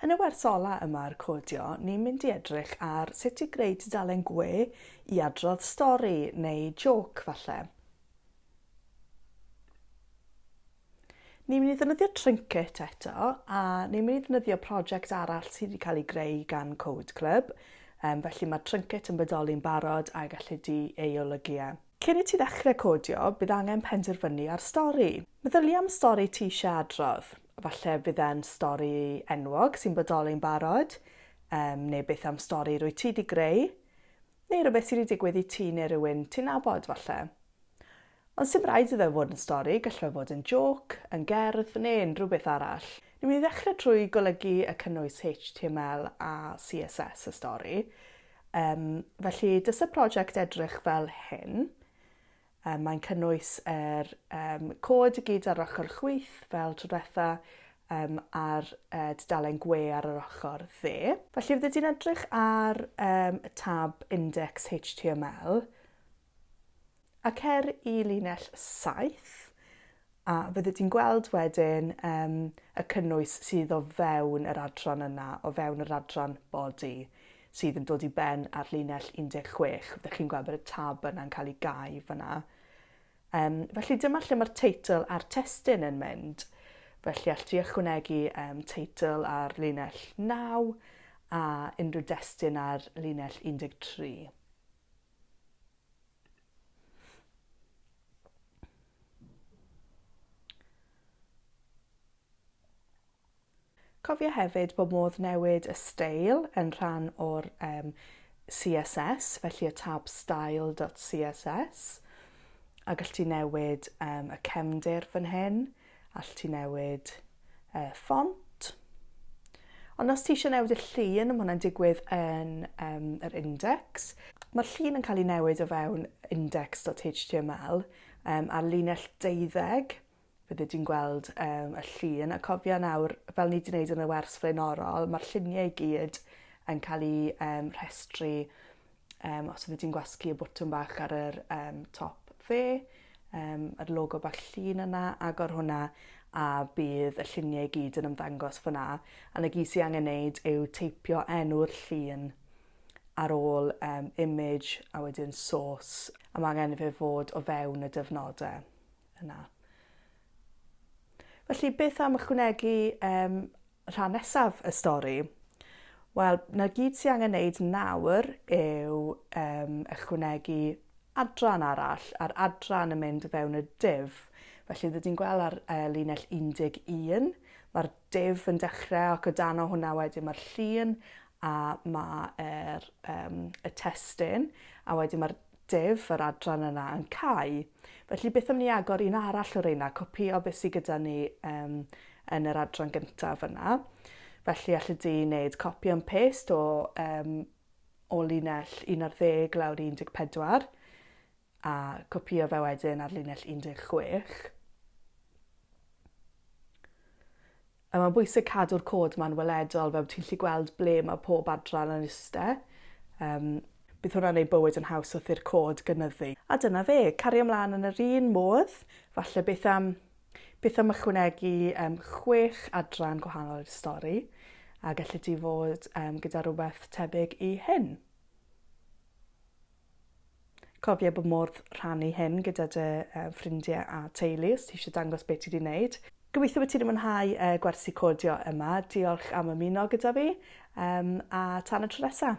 Yn y wers ola yma ar Codio, ni'n mynd i edrych ar sut i greu tudalen gwe i adrodd stori neu jôc falle. Ni'n mynd i ddefnyddio Trinket eto, a ni'n mynd i ddefnyddio prosiect arall sydd wedi cael ei greu gan Code Club, um, felly mae Trinket yn bodoli'n barod a gallu di ei olygu e. Cyn i ti ddechrau codio, bydd angen penderfynu ar stori. Meddylia am stori ti eisiau adrodd. Falle fydd e'n stori enwog sy'n bodoli'n barod, um, neu beth am stori rwy ti di greu, neu rhywbeth sydd wedi digwydd i ti neu rhywun ti'n nabod falle. Ond sdim raid iddo fod yn stori, gallu fe fod yn jôc, yn gerdd, neu unrhyw beth arall. Ni'n mynd i ddechrau trwy golygu y cynnwys HTML a CSS y stori. Um, felly, dys y prosiect edrych fel hyn. Um, mae'n cynnwys yr um, cod i gyd ar ochr chwyth fel trwydwetha um, a'r uh, dudalen gwe ar yr ochr dde. Felly, fydde ti'n edrych ar um, y tab Index HTML, A cer i linell 7, a fyddi di'n gweld wedyn um, y cynnwys sydd o fewn yr adran yna, o fewn yr adran body, sydd yn dod i ben ar linell 16. Fyddwch chi'n gweld bod y tab yna'n cael ei gau fyna. Um, felly dyma lle mae'r teitl a'r testyn yn mynd. Felly all ti ychwanegu um, teitl ar linell 9 a unrhyw destyn ar linell 13. Cofia hefyd bod modd newid y steil yn rhan o'r um, CSS, felly y tab style.css, a gallu newid um, y cefndir fan hyn. Allet ti newid y ffont. Ond os ti eisiau newid y llun, mae hwnna'n digwydd yn um, yr index. Mae'r llun yn cael ei newid o fewn index.html um, ar linell deuddeg. Fydde ti'n gweld um, y llun, a cofio nawr, fel ni wedi gwneud yn y wers flaenorol, mae'r lluniau i gyd yn cael eu um, rhestru Um, os ydy ti'n gwasgu y bwtwm bach ar yr um, top fe, um, yr logo bach llun yna, agor hwnna a bydd y lluniau i gyd yn ymddangos fyna. A na gyd sy'n angen neud yw teipio enw'r llun ar ôl um, image a wedyn source a mae angen fe fod o fewn y dyfnodau yna. Felly beth am ychwanegu um, Rhan nesaf y stori. Wel, 'na gyd sy angen neud nawr yw um, ychwanegu adran arall, a'r adran yn mynd fewn y div. Felly, rydyn ni'n gweld ar uh, linell 11, mae'r div yn dechrau ac o dan o hwnna wedyn mae'r llun a mae'r um, y testyn, a wedyn mae'r Dave, yr adran yna yn cau, felly beth am ni agor un arall o reina, copïo beth sydd gyda ni um, yn yr adran gyntaf yna. Felly allu di wneud copy and paste o, um, o linell 11 lawr 14 a copïo fe wedyn ar linell 16. A mae'n bwysig cadw'r cod ma'n weledol, fel ti'n gallu gweld ble mae pob adran yn iste. Yym, bydd hwnna'n neud bywyd yn haws wrth i'r cod gynyddu. A dyna fe, cario mlan yn yr un modd, falle beth am, beth am ychwanegu yym chwech adran gwahanol i'r stori, a gelli di fod yym gyda rhywbeth tebyg i hyn. Cofia bod modd rhannu hyn gyda dy ffrindie a teulu os ti eisiau dangos be ti 'di neud. Gobeithio bod ti 'di mwynhau y gwersi codio yma. Diolch am ymuno gyda fi, um, a tan y tro nesa!